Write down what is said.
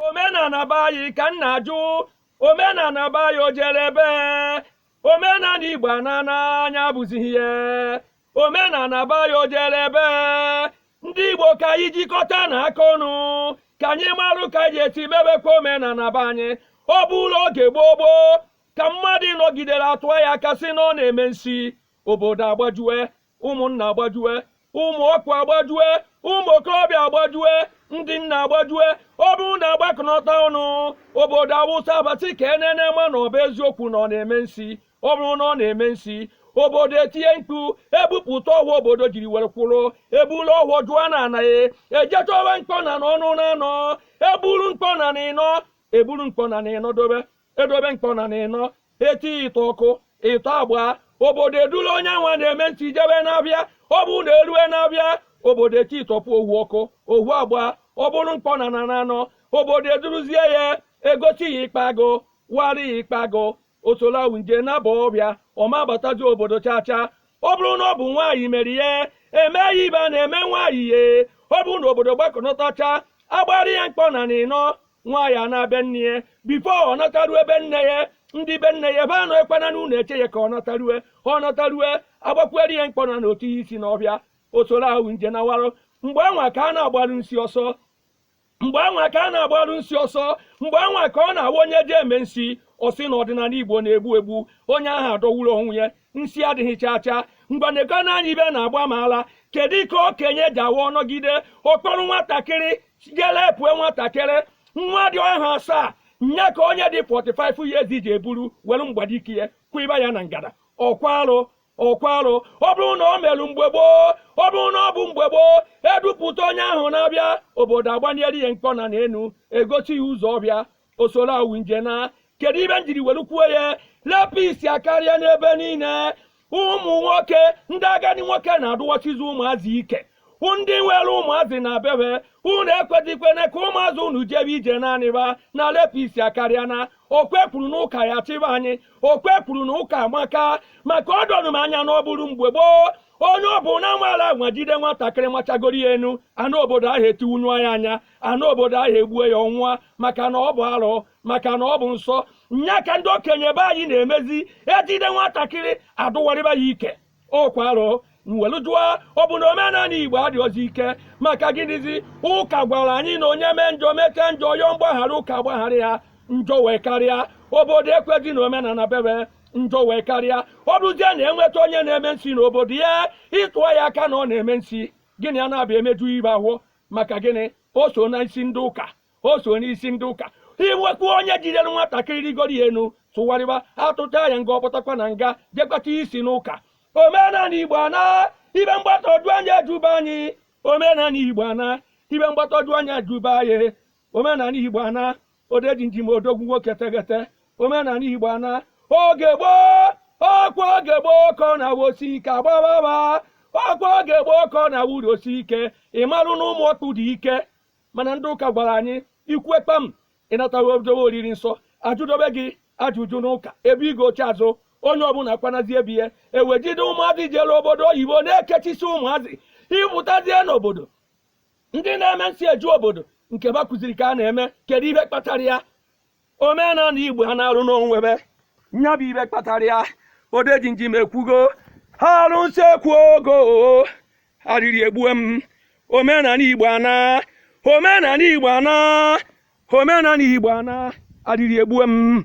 omenala be anyị ka m na-ajụ omenala be anyị o jere ebe omenala igbo ana n'anya bụzighị ihe omenala be anyị o jere ebe ndị igbo ka anyị jikọta na aka ọnụ ka anyị marụ ka anyị je esi mebekwa omenala be anyị ọ bụrụ oge gboo gboo ka mmadụ nọgidere atụọ ya aka sị na ọ na-eme nsi obodo agbajue ụmụnna agbajue ụmụ ọkpụ agbajue ụmụ okorobịa agbajue ndị nna agbajue ọ bụrụ na agbakọnọta ọnụ obodo awụsa aba sị ka enene ma na ọ bụ eziokwu na ọ na-eme nsi ọ bụrụ na ọ na-eme nsi obodo etinye mkpu ebupụta ọfọ obodo jiri were kwụrụ eburu ọfọ jụọ na ana ahụ eje chọba mkpọnana ọnụ na anọ eburu mkpọnana ịnọ eburu mkpọnana ịnọ dobe edobe mkpọnana ịnọ eti ịtọ ọkụ ịtọ agba obodo edula onye nwa na-eme nsi jebe n'ahịa ọ bụrụ na erue n'ahịa obodo eti ịtọpụ ohu ọkụ ohu agba ọ bụrụ mkpọnana na anọ obodo eduruzie ya egosi ya ikpa agụ wari ya ikpa agụ osolawu nje naba ọhịa ọ ma abatazi obodo chacha ọ bụrụ na ọ bụ nwaanyị mere ya eme ya ihe a na-eme nwaanyị ya ọ bụrụ na obodo gbakọnọtacha agbara ya mkpọnana ịnọ nwaanyị anaa be nne ya before ọ natarue be nne ya ndị be nne ya ebe anọkwana na ụlọ eche ya ka ọ natarue ọ natarue agbakwuere ya mkpọnana o chee isi n'ọhịa osoro ahụ nje na warụ mgbe anwa ka a na-agbaru nsi ọsọ mgbe anwa ka a na-agbaru nsi ọsọ mgbe anwa ka ọ na-awụ onye je eme nsi ọ sị na ọdịnala igbo na-egbu egbu onye ahụ adọwuru onwe ya nsi adịghị chaa chaa ngwa nekọnụ anya ihe na-agba m ara kedu ka okenye ji awụ ọ nọgide ọ kpọrọ nwatakịrị jee rape nwatakịrị nwa dị afọ asaa nya ka onye dị 45 years je eburu were mgbadike ya kwụiba ya na ngada ọkwa arụ ọkwa arụ ọ bụrụ na ọ merụ mgbe gboo ọ bụrụ na ọ bụ mgbe gboo edupụta onye ahụ n'ahịa obodo agbanyere ya mkpọnana enu egosi ya ụzọ ọhịa o soro awụ nje na kedu ihe m jiri were kwuo ya rapist akarịa n'ebe niile ụmụ nwoke ndị agadi nwoke na-adụwachizi ụmụazị ike ndị nwere ụmụazị na be ha unu ekwezikwene ka ụmụazị unu jebe ije naanị ha na rapist akarịa na ọkwa ekwuru na ụka ya chịba anyị ọkwa ekwuru na ụka amaka maka o doro m anya na ọ bụrụ mgbe gboo onye ọ bụla nwara anwa jide nwatakịrị machagoro ya enu ana obodo ahụ etinyụa ya anya ana obodo ahụ egbue ya ọ nwụa maka na ọ bụ arụ maka na ọ bụ nsọ nya ka ndị okenye be anyị na-emezi ejide nwatakịrị adụwarịba ya ike ọkwa arụ m welu jụọ ọ bụ na omenala igbo adịghịzi ike maka gịnịzi ụka gwara anyị na onye mee njọ mete njọ yọọ mgbaghara ụka gbaghara ya njọ wee karịa obodo ekwezi na omenala be ha njọ wee karịa ọ bụzie na enweta onye na-eme nsi n'obodo ya ị tụọ ya aka na ọ na-eme nsi gị na ya na-abịa emeju ihe ahụ maka gịnị o so n'isi ndị ụka o so n'isi ndị ụka inwekwu onye jidere nwatakịrị rigoro ya enu tụgharịba atụcha ya nga ọ pụtakwa na nga jekwata isi n'ụka omenala igbo ana ibe mgbagwoju anya eduba anyị omenala igbo ana ibe mgbagwoju anya eduba anyị omenala igbo ana odejinjim odogwu nwoke tegete omenala igbo ana oge gboo ọkwa oge gboo ka ọ na-awụ osi ike agbababa ọkwa oge gboo ka ọ na-awụ uru osi ike ị marụ na ụmụ ọkpụ dị ike mana ndị ụka gwara anyị ikwu ekpam ị nataghị odowe oriri nsọ ajụdobe gị ajụjụ n'ụka ebe ị ga oche azụ onye ọbụla kwanazi ebi ya iwe jide ụmụazị jere obodo oyibo na-ekechi isi ụmụazị ị pụtazie n'obodo ndị na-eme nsi eju obodo nke ba kụziri ka a na-eme kedu ibe kpatara ya omenala igbo ana arụ n'onwe be nya bụ ibe kpatara ya odejinjim ekwugo ha arụnsị ekwugo arịrị egbue m omenala igbo ana omenala igbo ana omenala igbo ana arịrị egbue m